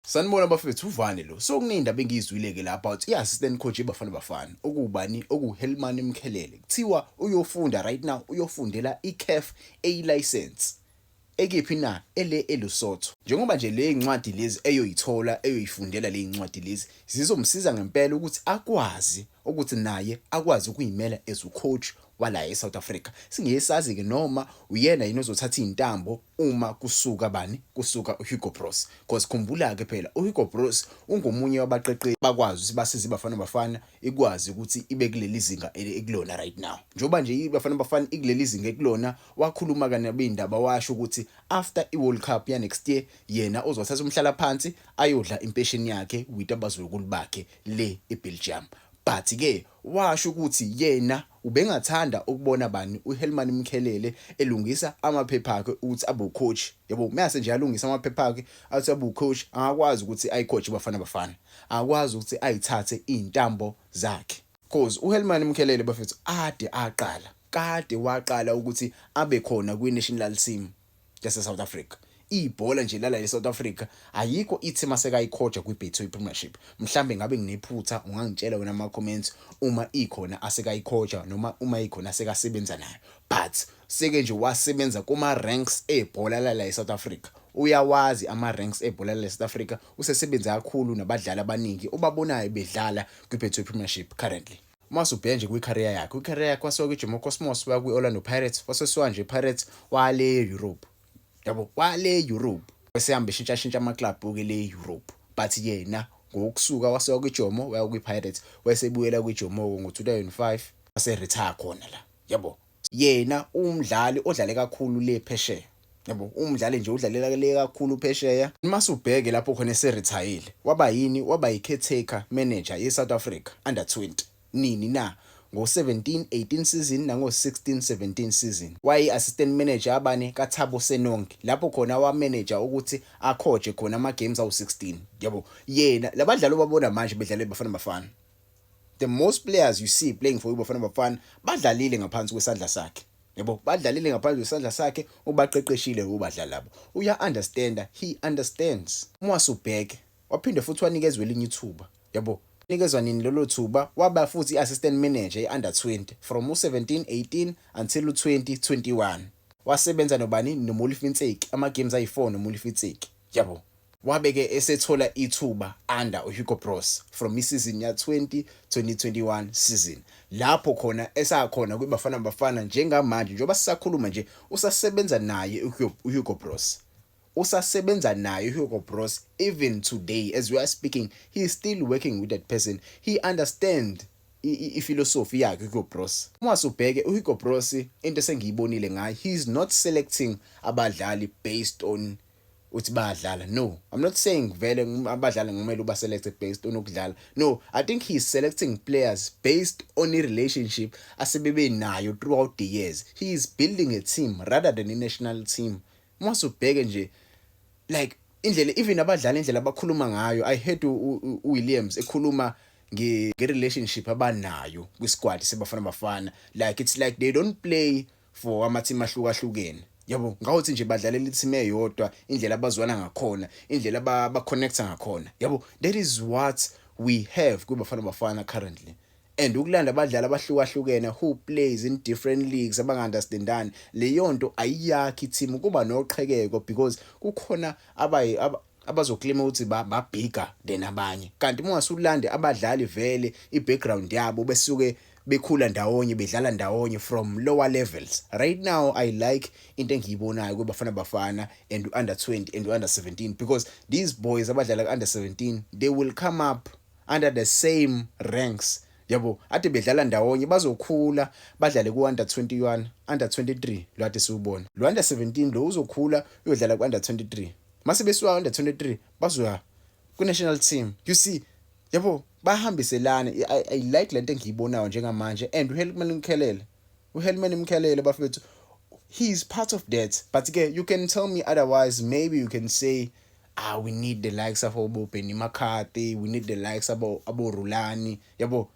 Sanibona bafethu uvane lo. So kuningi indaba engiyizwile ke la about i-assistant coach yeBafana Bafana okubani okuHelman Mkhelele. Kuthiwa uyofunda right now uyofundela iCAF A license. Ekephi na ele eLusotho. Njengoba nje le incwadi lezi eyoyithola eyoyifundela le incwadi lezi zizomsiza ngempela ukuthi akwazi ukuthi naye akwazi ukuyimela as ucoach wala eSouth Africa. Singesazi ke noma uyena yini ozothatha izintambo uma kusuka bani kusuka uHugo Broos cause khumbula ke phela uHugo Broos ungomunye wabaqeqeshi bakwazi ukuthi basize iBafana Bafana ikwazi ukuthi ibe kuleli zinga ekulona right now njengoba nje iBafana Bafana ikuleli zinga ekulona wakhuluma kanabo indaba washo ukuthi after iWorld Cup ya next year yena uzothatha umhlala phansi ayodla impesheni yakhe with abazukulu bakhe le eBelgium but ke Washo ukuthi yena ubengathanda ukubona bani uHelman Mkhelele elungisa amaphepha akhe ukuthi abe ucoach. Yabo mase nje alungisa amaphepha akhe athi abe ucoach angakwazi ukuthi ayicoach iBafana Bafana. Angakwazi ukuthi ayithathe izintambo zakhe. Coz uHelman Mkhelele bafethu ade aqala, kade waqala ukuthi abe khona kwiNationlal Team. yase South Africa ibhola nje lala le South Africa ayikho ithi masekayikhoja kwiBetway Premiership mhlambe ngabe nginephutha ungangitshela wena ama comments uma ikhona asekayikhoja noma uma ikhona sekasebenza nayo but seke nje wasebenza kuma ranks ebhola lala eSouth Africa uyawazi ama ranks ebhola lala eSouth Africa usesebenza kakhulu nabadlali abaningi obabonayo bedlala kwiBetway Premiership currently uma usubheka nje kwi-career yakhe kwi-career yakhe wasuka kwijomo cosmos waya kwi-orlando pirates wasesuka nje ipirates wale europe yabo wale europe esehamba eshintshashintsha amaclub-ke le europe but yena ngokusuka wasuka kwijomo waya kwi-pirates wesebuyela kwijomoko ngo-2005 waseretire khona la yabo Yena uwumdlali odlale kakhulu le phesheya. Yabo, umdlali nje udlalela le kakhulu phesheya. Mase ubheke lapho khona eserithayile. Waba yini? Waba yi-caretaker manager ye-South Africa Under 20. Nini na? Ngo-17, 18 season nango-16, 17 season. Wayeyi-assistant manager yabane kaThabo Senong, lapho khona wamanager ukuthi akhoje khona ama-games awu-16. Yabo, yena, labadlali obabona manje bedlala iBafana Bafana. the most players you see playing for iBafana Bafana badlalile ngaphansi kwesandla sakhe yabo badlalile ngaphansi kwesandla sakhe ubaqeqeshile ubadlali labo uya understanda he understands uma wasubheke waphinde futhi wanikezwe elinye ithuba yabo nikezwa nini lelo thuba waba futhi i-assistant manager e-under 20 from u-17 18 until u-20 21 wasebenza nobani nomulifitseki ama-games ayi-4 nomulifitseki Yabo. Wabe ke esethola ithuba under uHugo Broos from isizini ya-20, 2021 season lapho khona esakhona kwiBafana Bafana njengamanje njengoba sisakhuluma nje usasebenza naye uHugo Broos. Usasebenza naye uHugo Broos even today as we are speaking he is still working with that person. He understand ifilosofi yakhe uHugo Broos. Uma subheke uHugo Broos into esengiyibonile ngaye he is not selecting abadlali based on uthi bayadlala no i'm not saying vele abadlali ngumele uba selected based on ukudlala no i think he is selecting players based on a relationship asebebe nayo throughout the years he is building a team rather than a national team Uma subheke nje like indlela even abadlali indlela abakhuluma ngayo i heard uWilliams ekhuluma nge relationship abanayo kwi squad sebafana bafana like it's like they don't play for ama team ahlukahlukene yabo ngawuthi nje badlalela i-team eyodwa indlela abazwana ngakhona indlela ba-connecta ngakhona yabo that is what we have kwiBafana Bafana currently and ukulanda abadlali abahlukahlukene who plays in different leagues abangaunderstandani leyonto ayiyakhi team kuba noqhekeko because kukhona abayi abazoklima ukuthi ba bigger than abanye kanti uma usulande abadlali vele i background yabo besuke bekhula ndawonye bedlala ndawonye from lower levels right now i like into engiyibonayo kwebafana bafana and under 20 and under 17 because these boys abadlala ku under 17 they will come up under the same ranks yabo ade bedlala ndawonye bazokhula badlale ku under 21 under 23 lo ade siwubona lo under 17 lo uzokhula uyodlala ku under 23 mase besuka under 23 bazoya ku national team you see yabo bahambiselana I, i like lento engiyibonayo njengamanje and uHelman Mkhelele uHelman Mkhelele bafethu he is part of that but ke you can tell me otherwise maybe you can say ah we need the likes of obobenny mccarthy we need the likes abo aborulani yabo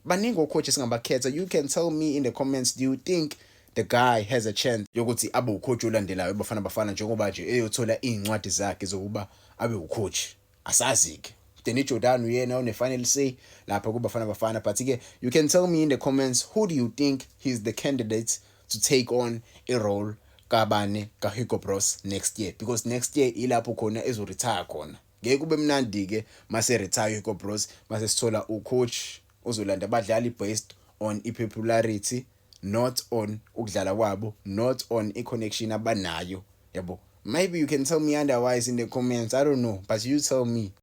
baningi ocoach esingabakhetha you can tell me in the comments do you think the guy has a chance yokuthi abe ucoach olandelayo bafana bafana njengoba nje eyothola iy'ncwadi zakhe zokuba abe ucoach asazi-ke Danny Jordan uyena one-final say lapha kubafana bafana but-ke you can tell me in the comments who do you think he's the candidate to take on a role kabani ka Hugo Broos next year because next year ilapho khona ezo retire khona ngeke kube mnandi ke mase retire Hugo Broos mase sithola u coach ozolanda abadlali based on i popularity not on ukudlala kwabo not on i connection abanayo yabo maybe you can tell me otherwise in the comments i don't know but you tell me